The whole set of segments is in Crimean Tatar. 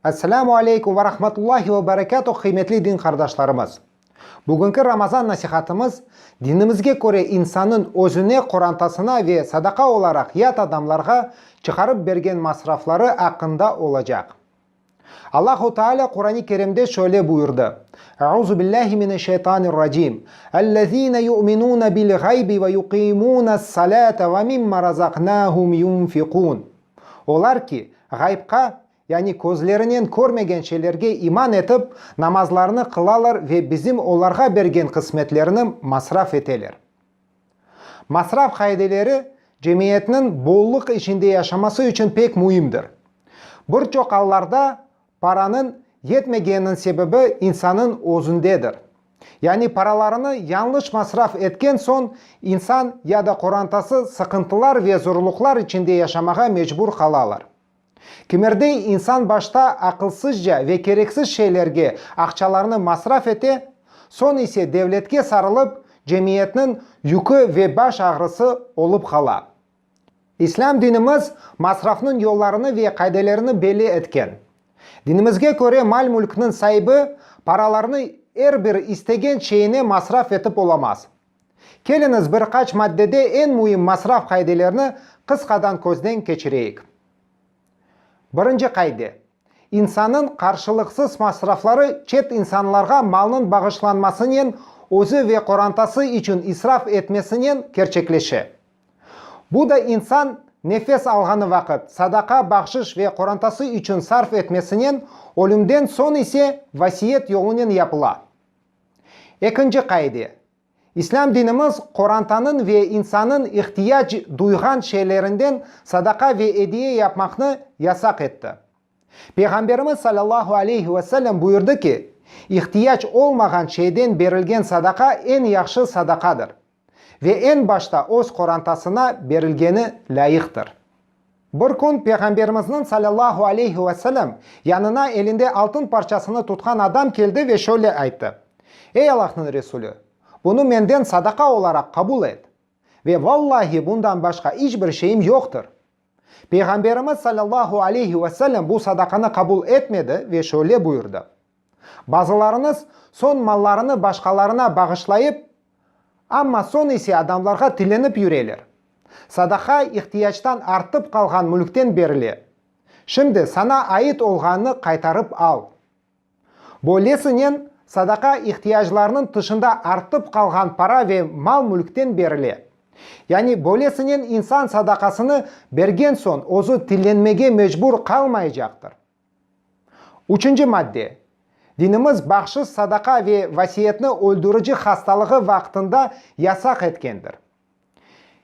Esselamu aleykum ve rahmetullahi ve berekatuh, qıymetli din qardaşlarımız! Bugünki Ramazan nasihatımız, dinimizge köre insannıñ özüne, qorantasına ve sadaqa olaraq yat adamlarğa çıqarıp bergen masrafları aqqında olacaq. Allahu Teala Quran-ı Kerimde şöyle buyurdı, Euzu billahi mineşşeytanirracim, Ellezine yu'minune bil ğaybi ve yuqimunes salate ve mimma razaqnahum yunfiqun. Olar ki, ğaybqa, yani közlerinen körmegen şeylerge iman etip, namazlarını qılalar ve bizim olarğa bergen qısmetlerini masraf eteler. Masraf qaideleri cemiyetniñ bollıq içinde yaşaması içün pek müimdir. Bir çoq allarda paranıñ yetmegeniniñ sebebi insannıñ özündedir. Yani paralarını yanlış masraf etken soñ insan ya da qorantası sıqıntılar ve zorluqlar içinde yaşamağa mecbur qalalar. Kimerdey insan başta aqılsızca ve kereksiz şeylerge aqçalarnı masraf ete, soñ ise devletke sarılıp, cemiyetniñ yükü ve baş ağrısı olıp qala. İslâm dinimiz masrafnıñ yollarını ve qaydelerini belli etken. Dinimizge köre mal-mülkniñ saibi paralarnı er bir istegen şeyine masraf etip olamaz. Keliñiz, bir qaç maddede eñ müim masraf qaidelerini qısqadan közden keçireyik. Birinci qaide, insannıñ qarşılıqsız masrafları çet insanlarğa malnıñ bağışlanmasınen, özü ve qorantası içün israf etmesinen kerçekleşe. Bu da insan nefes alğanı vaqıt, sadaqa, bahşış ve qorantası içün sarf etmesinen, ölümden soñ ise vasiyet yolunen yapıla. Ekinci qaide, İslâm dinimiz qorantanıñ ve insannıñ ihtiyac duyğan şeylerinden sadaqa ve ediye yapmaqnı yasaq etti. Peyğamberimiz salâllahu aleyhi ve sellem buyurdı ki, İhtiyac olmağan şeyden berilgen sadaqa eñ yahşı sadaqadır. ve eñ başta öz qorantasına berilgeni lâyıqtır. Bir kün Peyğamberimizniñ salâllahu aleyhi ve selem yanına elinde altın parçasını tutqan adam keldi ve şöyle ayttı, Ey Allahnıñ Resulü! Bunı menden sadaqa olaraq qabul et. Ve vallahi bundan başqa iç bir şeyim yoqtır. Peyğamberimiz sallallahu aleyhi ve sellem bu sadaqanı qabul etmedi ve şöyle buyurdı, Bazılarıñız soñ mallarını başqalarına bağışlayıp, amma soñ ise adamlarğa tilenip yüreler. Sadaqa ihtiyactan artıp qalğan mülkten berile. Şimdi sana ait olğanını qaytarıp al. Böylesinen, sadaqa ihtiyaclarnıñ tışında artıp qalğan para ve mal-mülkten berile. Yani böylesinen insan sadaqasını bergen soñ özü tillenmege mecbur qalmaycaqtır. Üçünci madde, Dinimiz bağışız sadaqa ve vasiyetni öldürici hastalığı vaqtında yasaq etkendir.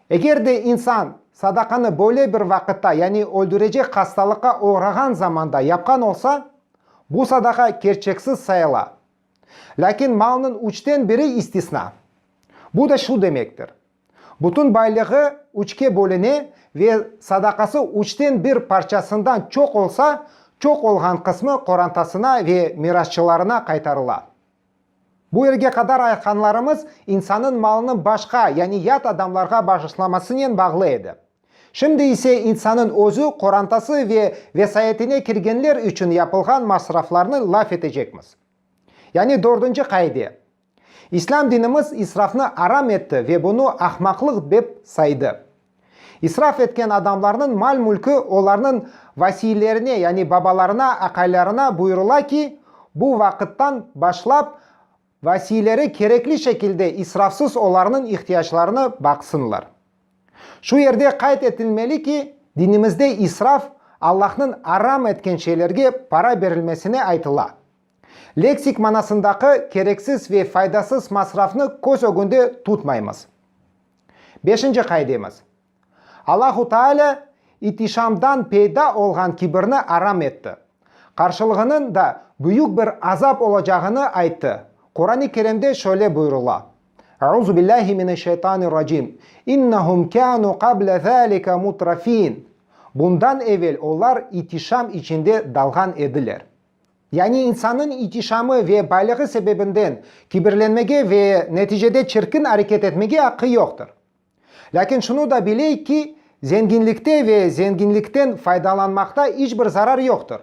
Eger de insan sadaqanı böyle bir vaqıtta, yani öldürecek hastalıqqa oğrağan zamanda yapqan olsa, bu sadaqa kerçeksiz sayıla. Lâkin malnıñ üçten biri istisna. Bu da şu demektir, bütün baylığı üçke bölüne ve sadaqası üçten bir parçasından çoq olsa, çoq olğan qısmı qorantasına ve mirasçılarına qaytarıla. Bu yerge qadar aytqanlarımız insannıñ malını başqa, yani yat adamlarğa bağışlamasınen bağlı edi. Şimdi ise insannıñ özü, qorantası ve vesayetine kirgenler içün yapılğan masraflarnı laf etecekmiz. Yani dördünci qaide. İslâm dinimiz israfnı aram etti ve bunı ahmaqlıq dep saydı. İsraf etken adamlarnıñ mal-mülki olarnıñ vasiylerine, yani babalarına, aqaylarına buyurıla ki, bu vaqıttan başlap vasiyleri kerekli şekilde israfsız olarnıñ ihtiyaclarını baqsınlar. Şu yerde qayd etilmeli ki, dinimizde israf, Allahnıñ aram etken şeylerge para berilmesine aytıla, Leksik manasındaki kereksiz ve faydasız masrafnı köz ögünde tutmaymız. Beşinci qaidemiz, Allahu Teala itişamdan peyda olğan kibirni aram etti. Qarşılığınıñ da büyük bir azap olacağını ayttı. Quran-ı Kerimde şöyle buyurula, Euzu billahi mineşşeytanirracim, İnnehum kânû qabla zâlike mutrafîn, Bundan evel olar itişam içinde dalğan ediler. Yani insannıñ itişamı ve baylığı sebebinden kibirlenmege ve neticede çirkin areket etmege aqqı yoqtır. Lâkin şunı da bileyik ki, zenginlikte ve zenginlikten faydalanmaqta iç bir zarar yoqtır.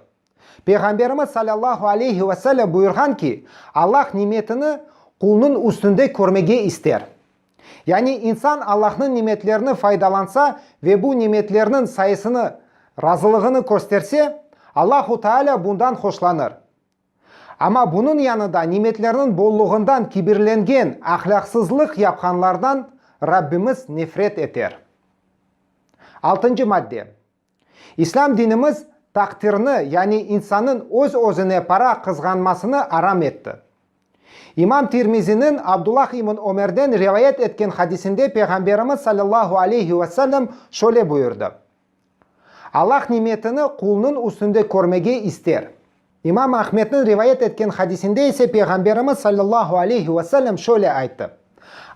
Peyğamberimiz salâllahu aleyhi ve sellem buyurğan ki, Allah nimetini qulnıñ üstünde körmege ister. Yani insan Allahnıñ nimetlerini faydalansa ve bu nimetlerniñ sayısını, razılığını kösterse, Allahu Teala bundan hoşlanır. Amma bunıñ yanında nimetlerniñ bolluğından kibirlengen, ahlâqsızlıq yapqanlardan Rabbimiz nefret eter. Altıncı madde. İslâm dinimiz taqdirni, yani insannıñ öz-özüne para qızğanmasını aram etti. İmam Tirmiziniñ Abdullah ibn Ömerden rivayet etken hadisinde Peyğamberimiz sallallahu aleyhi ve sellem şöyle buyurdı, Allah nimetini qulnıñ üstünde körmege ister. İmam Ahmedniñ rivayet etken hadisinde ise Peyğamberimiz sallallahu aleyhi ve sellem şöyle ayttı,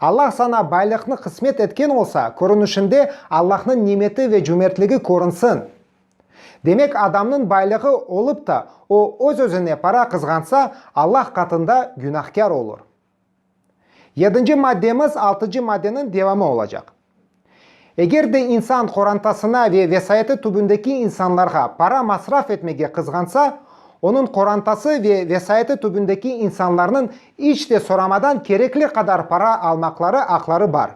Allah saña baylıqnı qısmet etken olsa, körünişinde Allahnıñ nimeti ve cömertligi körünsin. Demek, adamnıñ baylığı olıp ta, o öz-özüne para qızğansa, Allah qatında günahkâr olur. Yedinci maddemiz altıncı maddeniñ devamı olacaq. Eger de insan qorantasına ve vesayeti tübündeki insanlarğa para masraf etmege qızğansa, onıñ qorantası ve vesayeti tübündeki insanlarnıñ iç de soramadan kerekli qadar para almaqları aqları bar.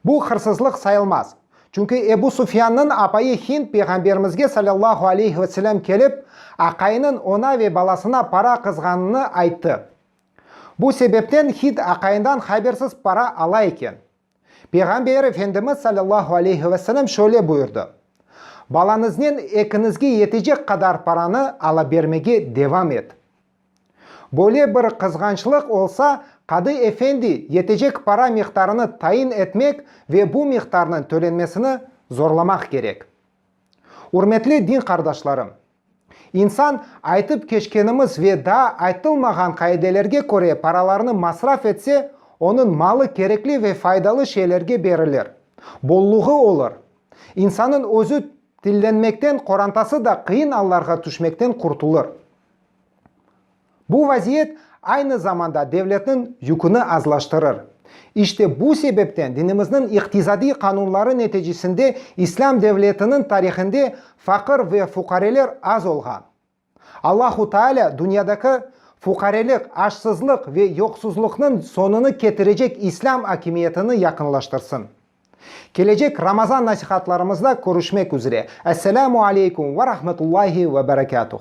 Bu hırsızlıq sayılmaz. Çünki Ebu Sufyannıñ apayı Hind Peyğamberimizge salâllahu aleyhi ve selâm kelip, aqayınıñ oña ve balasına para qızğanını ayttı. Bu sebepten hid aqayından habersiz para ala eken. Peyğamber Efendimiz sallallahu aleyhi ve selem şöyle buyurdı, Balanıznen ekiñizge yetecek qadar paranı alabermege devam et. Böyle bir qızğançlıq olsa, qadı efendi yetecek para miqdarını tayin etmek ve bu miqdarnıñ tölenmesini zorlamaq kerek. Ürmetli din qardaşlarım! İnsan, aytıp keçkenimiz ve daa aytılmağan qaidelerge köre paralarnı masraf etse, onıñ malı kerekli ve faydalı şeylerge berilir, bolluğı olur. İnsanıñ özü tillenmekten, qorantası da qıyın allarğa tüşmekten qurtulır. Bu vaziyet aynı zamanda devletniñ yüküni azlaştırır. İşte bu sebepten dinimizniñ iqtisadiy qanunları neticesinde İslâm devletiniñ tarihinde faqır ve fuqareler az olğan. Allahu Teala dünyadaki fuqarelik, açsızlıq ve yoqsuzlıqnıñ soñunı ketirecek İslâm akimiyetini yaqınlaştırsın. Kelecek Ramazan nasihatlarımızda körüşmek üzre. Esselamu aleykum ve rahmetullahi ve berekatuh.